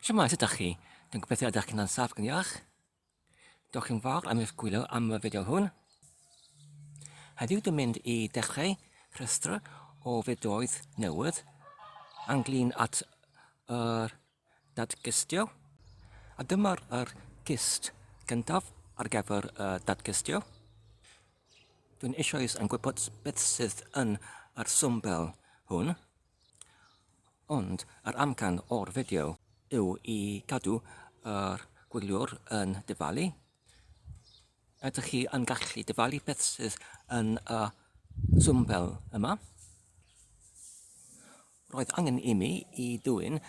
Siamai, sut ydych chi? Dwi'n gobeithio ydych chi'n ansaf gan iach. Diolch yn fawr am eich gwylio am y fideo hwn. Heddiw dwi'n mynd i dechrau rhestr o fideoedd newydd anglyn at yr dadgystio. A dyma'r er gist gyntaf ar gyfer y dadgystio. Dwi'n eisoes yn gwybod beth sydd yn yr swmbel hwn. Ond yr amcan o'r fideo yw i gadw yr gwyliwr yn dyfalu. Ydych chi yn gallu dyfalu beth sydd yn y swmbel yma? Roedd angen i mi i dwyn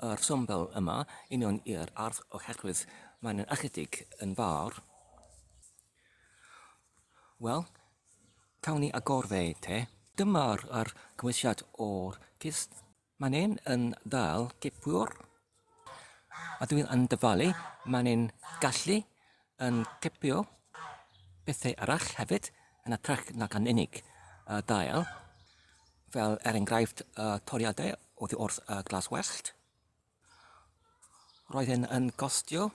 yr swmbel yma i mewn i'r ardd oherwydd mae'n ychydig yn fawr. Wel, cawn ni agor fe te. Dyma'r yr cymwysiad o'r cist. Mae'n un yn dal cipwr. A dwi'n yn dyfalu, mae'n un gallu yn cipio pethau arall hefyd yn y trech nag yn unig y dail, fel er enghraifft y toriadau oddi wrth y glas wellt. Roedd hyn yn costio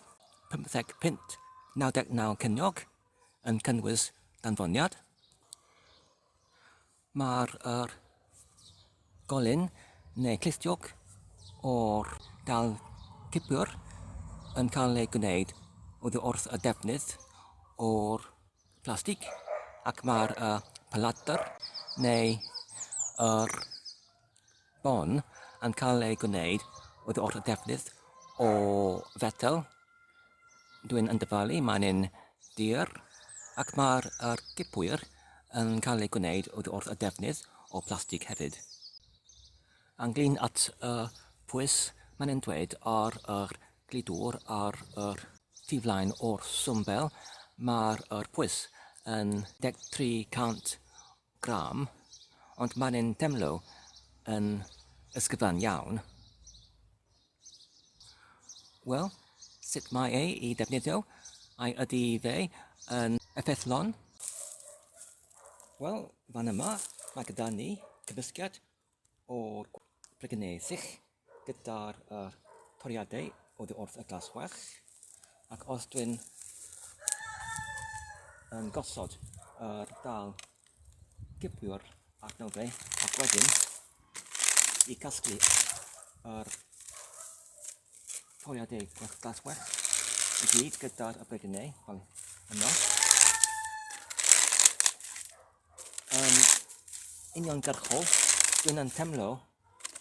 50 punt, 99 ceiniog, yn cynnwys danfoniad. Mae'r er, golyn neu clistiog o'r dal cipwr yn cael ei gwneud oddi wrth y defnydd o'r plastig ac mae'r uh, paladr neu yr Hon yn cael ei gwneud oddi wrth y defnydd o fetel. Dwi'n yn dyfalu, mae'n un dir, ac mae'r er gipwyr yn cael ei gwneud oddi wrth y defnydd o blastig hefyd. Ynglyn at y pwys, mae'n yn dweud ar yr glidwr ar yr tu flaen o'r swmbel, mae'r er pwys yn 1300 Graham, ond mae'n yn demlo yn ysgyfan iawn. Wel, sut mae ei i defnyddio? Ai ydy fe yn effeithlon? Wel, fan yma mae gyda ni cymysgedd o'r Brygynesill gyda'r uh, toriadau oddi wrth y glas well ac os dwi'n yn gosod yr uh, dal gypwiwr ac nawdau ac wedyn i casglu yr uh, toriadau glas well i gyd gyda'r brygynau yno yn uniongyrchol, dwi'n yn temlo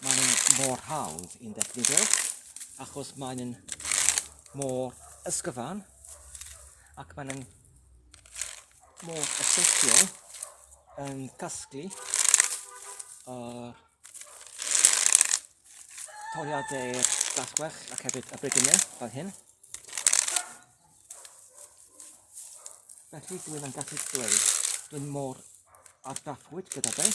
maen nhw'n mor hawdd i'n ddefnyddio achos maen nhw'n mor ysgyfan ac maen nhw'n mor effeithiol yn casglu uh, toriadau gasgwell ac hefyd y bregynau fel hyn. Felly dwi ddim yn gallu dweud dwi'n mor ardaffwyd gyda fe.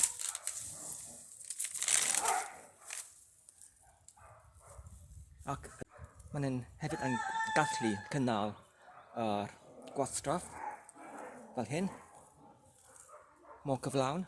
Ac maen nhw'n hefyd yn gallu cynnal yr uh, gwastraff fel hyn. Mor cyflawn.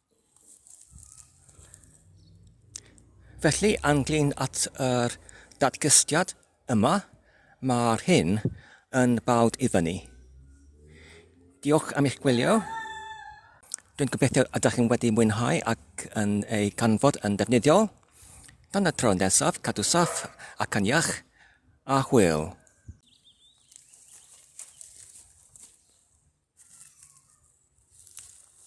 Felly, ynglyn at yr datgystiad yma, mae'r hyn yn bawd i fyny. Diolch am eich gwylio. Dwi'n gobeithio ydych chi'n wedi mwynhau ac yn ei canfod yn ddefnyddiol. Tan y tro nesaf, cadw saff ac yn iach, a hwyl!